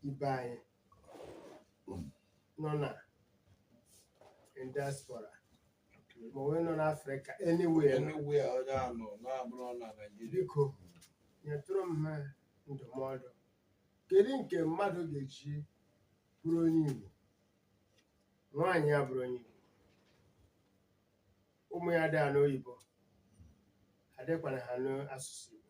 ibe anyị nọ na diaspora ma onwe nọ n'afrịka anywhere Anywhere onye a nọ na-abụrọ na Naịjirịa. biko nyetụrụ m ha ndụmọdụ kedu nke mmadụ ga-eji bụrụ onye igbo nwaanyị ya bụrụ onye igbo ụmụ ya adị anụ oyibo adịkwana anụ asụsụ igbo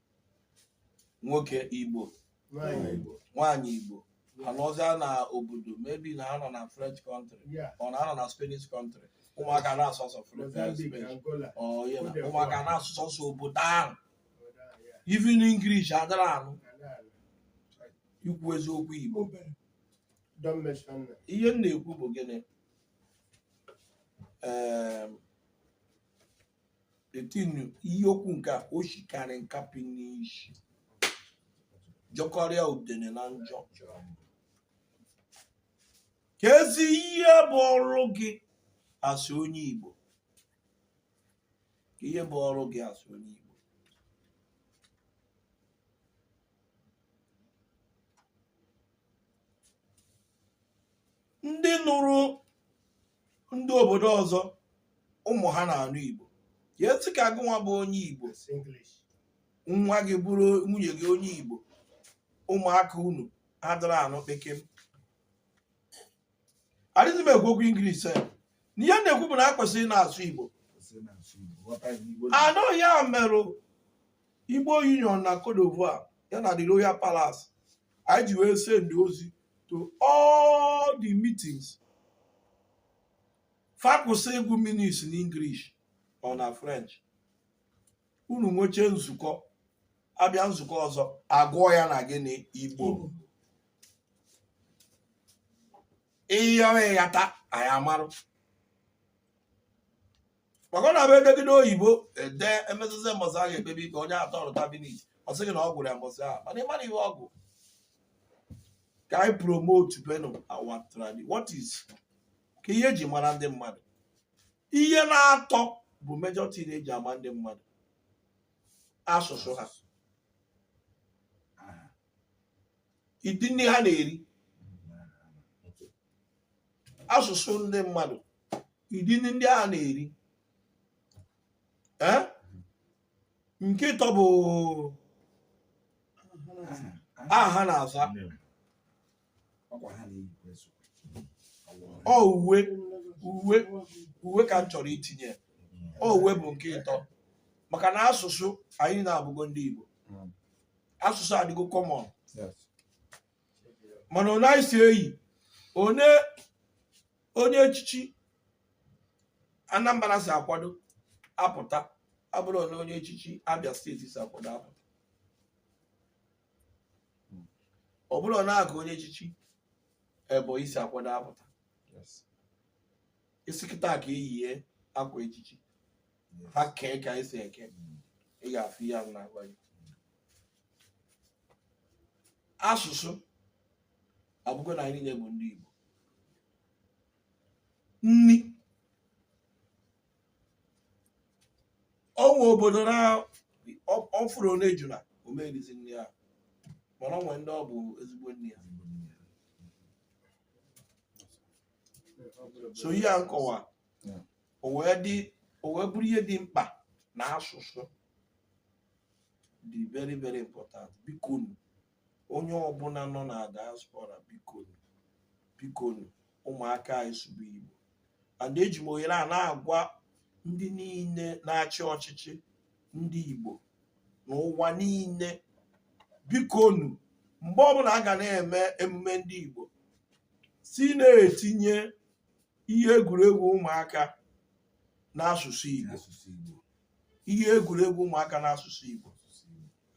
nwoke igbo Nwaanyị Igbo. nwaanyị igbo anọzịa na obodo maybe na ha nọ na french country Yeah. or na ha nọ na spanish country ụmụaka na-asụ asụ french Mozambique, Spanish. Angola. Ọ, yeah, Cote ụmụaka d'Ivoire. na-asụ asụsụ obodo ahụ Obodo a, yeah. even english adịrọ anụ Ala ala. ikwu eziokwu igbo Don't mention that. ihe m na-ekwu bụ gịnị Em, etinu ihe okwu nke a o shikarị nkapị n'isi jọkarịa udene na njọ kezi ihe bụ ọrụ gị as onye igbo kee ihe bụ ọrụ gị as onye igbo ndị nụrụ ndị obodo ọzọ ụmụ ha na-anụ Igbo ya etu ka gụnwa bụ onye Igbo nwa gị bụrụ nwunye gị onye Igbo ụmụaka unu adịrọ anụ kpekem adịghị m ekwu okwu English eh. na ihe a na-ekwu bụ na a kwesịrị na-asụ Igbo anụ ya merụ Igbo Union na Cote d'Ivoire ya na the Royal Palace anyị ji wee send ozi to all the meetings fa kwụsị ịgụ minutes na English or na French unu nweche nzukọ abịa nzukọ ọzọ agụọ ya na gịnị Igbo ihe ọghịghata anyị amarụ maka ọ na-abụ edegide oyibo ede emetụta mbọsị a ga-ekpebi ka onye atọ ọrụ kabinet ọ sị gị na ọ gụrụ ya mbọsị ahụ mana ị marọ ihe ọ gụ ka anyị promotebenụ our tradi what is kee ihe eji mara ndị mmadụ ihe naatọ bụ major thing eji ama ndị mmadụ asụsụ ha ụdị nri ha na-eri asụsụ ndị mmadụ ụdị nri ndị a na-eri ee nke ịtọ bụ aha ha na-aza ọ uwe uwe uwe ka m chọrọ itinye ọ uwe bụ nke ịtọ maka na asụsụ anyị na-abụgo ndị Igbo asụsụ adịgo common mana onye anyị si eyi onye onye echichi Anambra si akwado apụta abụrọ onye onye echichi Abia steeti si akwado apụta ọ bụrụ na aka onye echichi Ebonyi si akwado apụta ị sị kịta ka eyie akwa echichi ha kee ka esi eke ị ga-afụ ihe a m na-agwa gị asụsụ abụgo na anyị niile bụ ndị Igbo nni o nwe obodo na ọ- ọ fụrụ n'ejuna ọ ma erizi nri ahụ mana o nwe ndị ọ bụ ezigbo nri ya so ihe a m kọwa hmm. o wee bụrụ ihe dị mkpa na asụsụ dị very very important bikonu onye ọbụla nọ na diaspora bikonu bikonu ụmụaka anyị sụba igbo and eji m ohere a na-agwa ndị niile na-achị ọchịchị ndị igbo n'ụwa niile bikonu mgbe ọbụla a ga na-eme emume ndị igbo si na-etinye ihe egwuregwu ụmụaka n'asụsụ Igbo asụsụ Igbo ihe egwuregwu ụmụaka n'asụsụ Igbo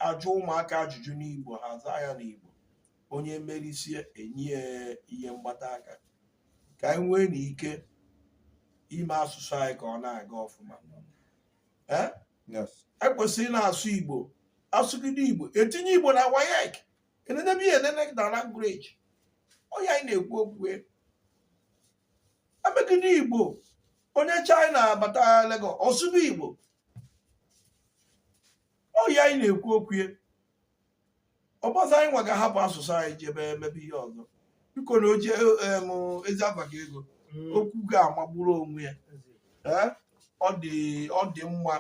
ajụ ụmụaka ajụjụ n'Igbo ha zaa ya n'Igbo onye merisie enye ya ihe mgbata aka ka anyị nwee na ike ime asụsụ anyị ka ọ na-aga ọfụma Eh? yes ekwesịrị na-asụ Igbo asụgide Igbo etinye Igbo na WAEC enenebe ihe enene na language ọ ihe anyị na-ekwu okwu ya emegide igbo onye china bata Lagos ọ sụba igbo ọ ihe anyị na-ekwu okwu ya ọ bụzị anyị nwa ga-ahapụ asụsụ anyị jebe emebe ihe ọzọ biko na oje em, ezi afa ka ego Mm. okwu ga-amagburu onwe ya Ee, ọ dị ọ dị mma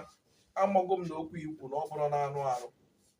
amago m na okwu i kwu na ọ bụrụ na anụ arụ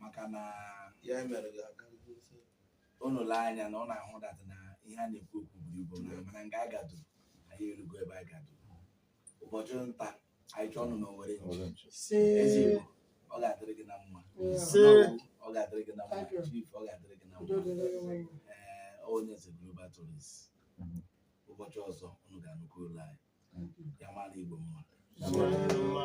maka na ya mere ka unu lee anya na ọ na-ahụ that na ihe a na-ekwu okwu buru ibu na mana nga a gadu anyị erugo ebe a gadu ụbọchị nta anyị chụọnụ na owere nchi Eze Igbo ọ ga-adịrị gị na mma Ise. ọ ga-adịrị gị na mma Thank you. chief ọ ga-adịrị gị na mma ee onye eze global tourist Mhm. ụbọchị ọzọ unu ga-anụkwa olu anyị ya mara Igbo mma Mma.